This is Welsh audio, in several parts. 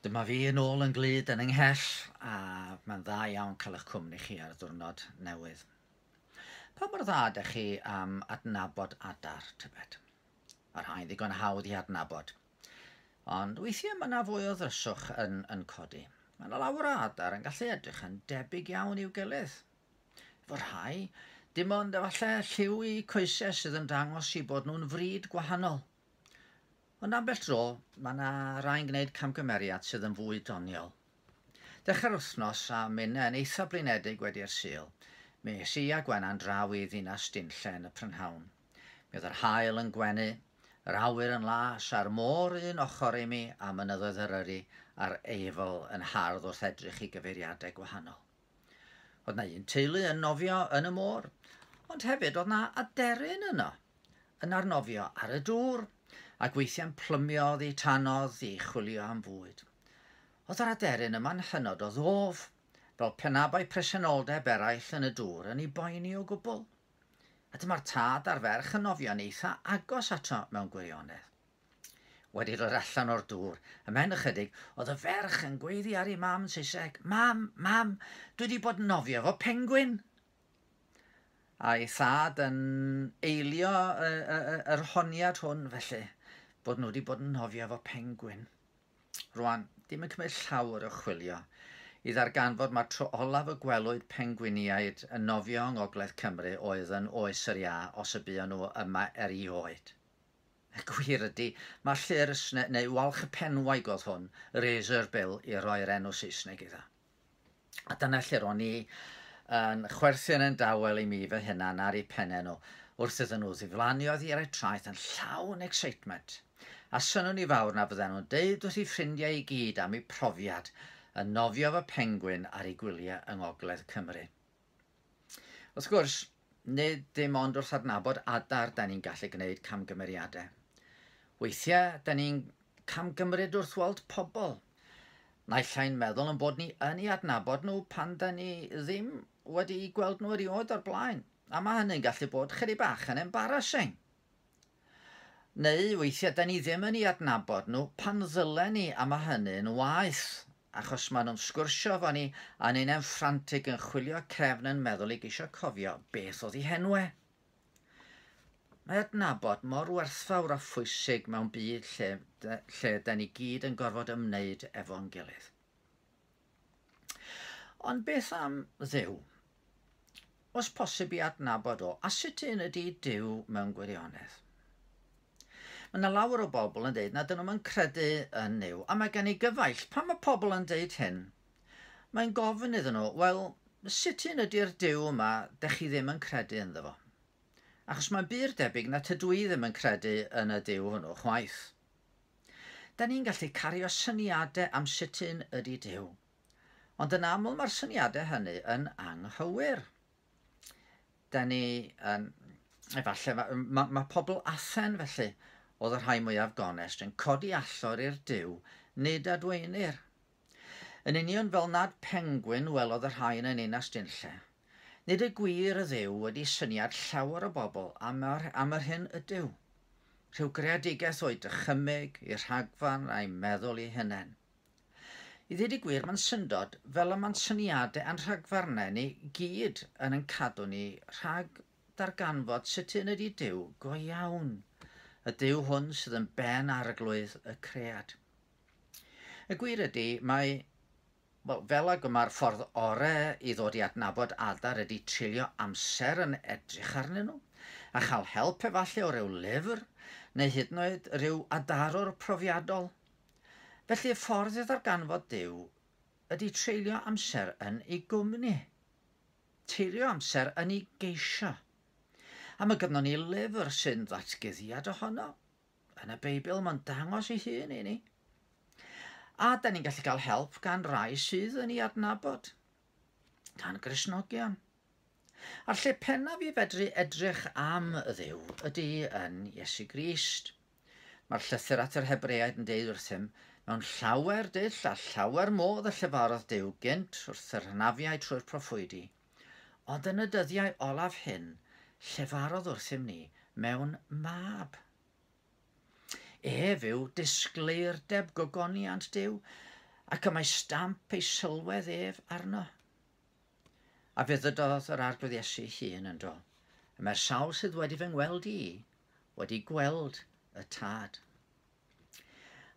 Dyma fi yn ôl yn glyd yn ynghell a mae'n dda iawn cael eich cwmni chi ar ddwrnod newydd. Pa mor dda ydych chi am adnabod adar, tybed? Mae rhai'n ddigon hawdd i adnabod. Ond weithiau mae yna fwy o ddryswch yn, yn codi. Mae yna lawer o adar yn gallu edrych yn debyg iawn i'w gilydd. Efo rhai, dim ond efallai lliw i coesau sydd yn dangos i bod nhw'n fryd gwahanol. Ond ambell dro, mae yna rai'n gwneud camgymeriad sydd yn fwy doniol. Dechrau'r wythnos a minnau yn eithaf blinedig wedi'r Sul, mi es i a Gwenna'n draw i ddinas Dinlle yn y prynhawn. Mi oedd yr haul yn gwenu, yr awyr yn las a'r môr un ochr i mi a mynyddoedd Eryri a'r Eifl yn hardd wrth edrych i gyfeiriadau gwahanol. Oedd na un teulu yn nofio yn y môr, ond hefyd oedd na aderyn yno, yn arnofio ar y dŵr, ac weithiau'n plymio oddi tanodd i chwilio am fwyd. Oedd yr aderyn yma'n hynod o ddof, fel penabau presenoldeb eraill yn y dŵr yn ei boeni o gwbl. A dyma'r tad a'r ferch yn nofio'n eitha agos ato mewn gwirionedd. Wedi dod allan o'r dŵr, ymhen ychydig, oedd y ferch yn gweiddi ar ei mam yn Saesneg, Mam, mam, dwi wedi bod yn nofio efo pengwin! A'i thad yn eilio yr honiad hwn felly, bod nhw wedi bod yn nofio efo pengwin. Rwan, dim yn cymryd llawr o chwilio i ddarganfod mae'r tro olaf y gwelwyd pengwiniaid yn nofio yng Ngogledd Cymru oedd yn oes yr iâ, os y buon nhw yma erioed. Y gwir ydy, mae'r llyr ysne, neu walch y penwaig oedd hwn, razor bill i roi'r enw Saesneg iddo. A dyna lle ro'n i yn chwerthin yn dawel i mi fy hunan ar ei penne nhw, wrth iddyn nhw ddiflannu oedd i'r eu traeth yn llawn excitement. A synwn i fawr na fydden nhw'n deud wrth ei ffrindiau i gyd am eu profiad yn nofio fy pengwin ar ei gwyliau yng Ngogledd Cymru. Wrth gwrs, nid dim ond wrth adnabod adar da ni'n gallu gwneud camgymeriadau. Weithiau, da ni'n camgymryd wrth weld pobl. Naill ai'n meddwl yn bod ni yn ei adnabod nhw pan da ni ddim wedi gweld nhw erioed o'r blaen, a mae hynny'n gallu bod chydig bach yn embarrassing. Neu weithiau 'da ni ddim yn 'u adnabod nhw pan ddylen ni a ma' hynny'n waeth achos ma' nhw'n sgwrsio efo ni a ni'n hen ffrantig yn chwilio cefn yn meddwl i geisio cofio beth oedd 'u henw e. Mae adnabod mor werthfawr a phwysig mewn byd lle, lle 'da ni gyd yn gorfod ymwneud efo'n gilydd. Ond beth am Dduw? Os posib i adnabod o, a sut un ydy Duw mewn gwirionedd? Mae yna lawer o bobl yn dweud na dyn nhw'n yn credu yn Nuw, a mae gen i gyfaill. Pan mae pobl yn dweud hyn, mae'n gofyn iddyn nhw, wel, sut un ydy'r Duw yma dych chi ddim yn credu ynddo fo? Achos mae'n bur debyg na tydw i ddim yn credu yn y Duw hwnnw chwaith. Da ni'n gallu cario syniadau am sut un ydy Duw. Ond yn aml mae'r syniadau hynny yn anghywir. Da ni yn... Efallai, mae, mae, mae pobl Athen felly, oedd y rhai mwyaf gonest, yn codi allor i'r Duw, nid adweinir, Yn union fel nad pengwin welodd y rhain yn Ninas Dinlle. Nid y gwir ydyw wedi syniad llawer o bobl am yr, am yr hyn ydyw. Rhyw greadigaeth o'i dychymyg, i rhagfarn a'i meddwl i hunen. I ddyd y gwir mae'n syndod fel y mae'n syniadau a'n rhagfarnau ni gyd yn yn cadw ni rhag darganfod sut un ydy Duw go iawn, y Duw hwn sydd yn ben arglwydd y cread. Y gwir ydy, mae, wel, fel ag y mae'r ffordd ore i ddod i adnabod adar ydy treulio amser yn edrych arnyn nhw, a chael help efallai o ryw lyfr, neu hyd yn oed ryw adarwr profiadol. Felly y ffordd i ddarganfod Duw ydy treulio amser yn ei gwmni. Teilio amser yn ei geisio. Am y gynnon ni lyfr sy'n ddatguddiad ohono. yn y Beibl, mae'n dangos ei hun i ni. A da ni'n gallu cael help gan rai sydd yn ei adnabod, gan grisnogion. A'r lle pennaf i fedru edrych am y ddew ydy yn Iesu Grist. Mae'r llythyr at yr Hebreaid yn deud wrthym, mewn llawer dull a llawer modd y llefarodd Dew gynt wrth yr hanafiau trwy'r proffwydi. Ond yn y dyddiau olaf hyn, llefarodd wrthym ni mewn mab. Ef yw disgleirdeb gogoniant Duw, ac y mae stamp ei sylwedd ef arno. A fe ddydodd yr Arglwydd Iesu hun yn do. Y mae'r sawl sydd wedi fy ngweld i, wedi gweld y tad.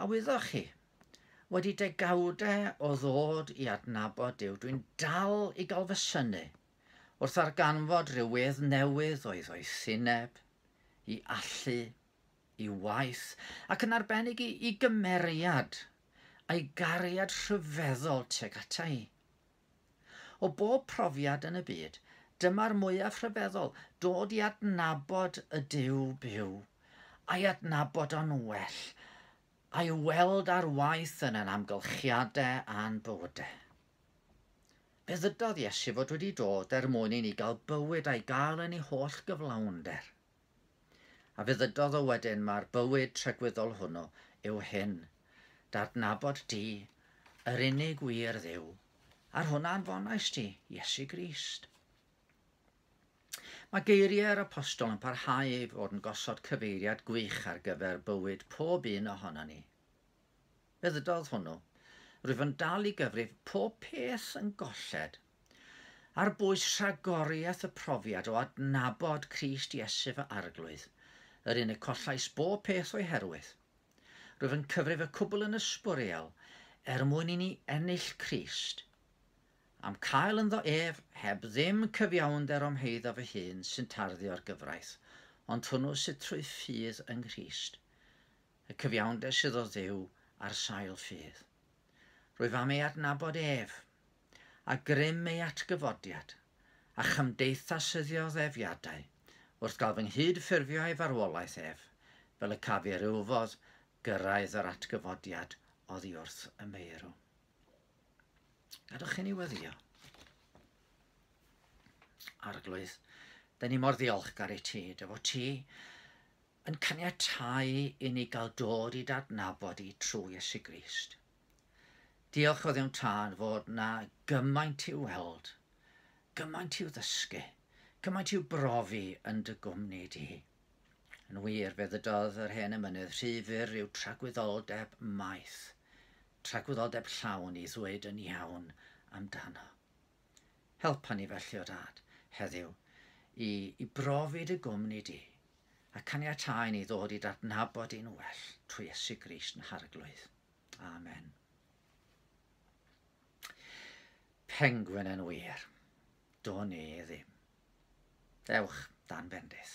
A wyddoch chi, wedi degawdau o ddod i adnabod Duw, dwi'n dal i gael fy synu wrth arganfod rhyw wedd newydd o'i ddoethineb, i allu, i waith, ac yn arbennig i, i gymeriad a'i gariad rhyfeddol teg ata i. O bob profiad yn y byd, dyma'r mwyaf rhyfeddol, dod i adnabod y Duw byw, a'i adnabod o'n well, a'i weld ar waith yn ein amgylchiadau a'n bywydau. Fe ddydodd Iesu fod wedi dod er mwyn i ni gael bywyd a'i gael yn ei holl gyflawnder. A fe ddydodd o wedyn, Mae'r bywyd tregwyddol hwnnw yw hyn, d'adnabod di, yr unig wir dduw, a'r hwn a anfonais di, Iesu Grist. Mae geiriau'r apostol yn parhau i fod yn gosod cyfeiriad gwych ar gyfer bywyd pob un ohono ni. Y ddydd hwnnw, rwyf yn dal i gyfrif pob peth yn golled, ar bwys rhagoriaeth y profiad o adnabod Crist Iesu fy Arglwydd, yr un y collais bob peth o'i herwydd. Rwyf yn cyfrif y cwbl yn ysbwriel, er mwyn i ni ennill Crist, am cael ynddo ef, heb ddim cyfiawnder o'm heiddo fy hun sy'n tarddu o'r gyfraith, ond hwnnw sydd trwy ffydd yng Nghrist. y cyfiawnder sydd o Dduw ar sail ffydd. Rwyf am ei adnabod ef, a grym ei atgyfodiad, a chymdeithasyddio ddefiadau, wrth gael fy nghyd ffurfio ei farwolaeth ef, fel y caf i'r uwfodd gyrraedd yr atgyfodiad oddi wrth y meirw. Gadwch chi ni weddio. Arglwydd, da ni mor ddiolchgar i ti, dy fod ti yn caniatáu i ni gael dod i dadnabod i trwy Iesu Grist. Diolch o ddim tân fod na gymaint i'w weld, gymaint i'w ddysgu, cymaint i'w brofi yn dy gwmni di. Yn wir, fe ddydodd yr hen emynydd, rhy fyr yw tragwyddoldeb maith, tragwyddoldeb llawn i ddweud yn iawn amdano. Helpa ni felly o dad, heddiw, i, i brofi dy gwmni di, a caniatáu i ni ddod i dadnabod yn well trwy Iesu Grist yn harglwydd. Amen. Pengwyn yn wir, do ni ddim. Ewch dan bendith.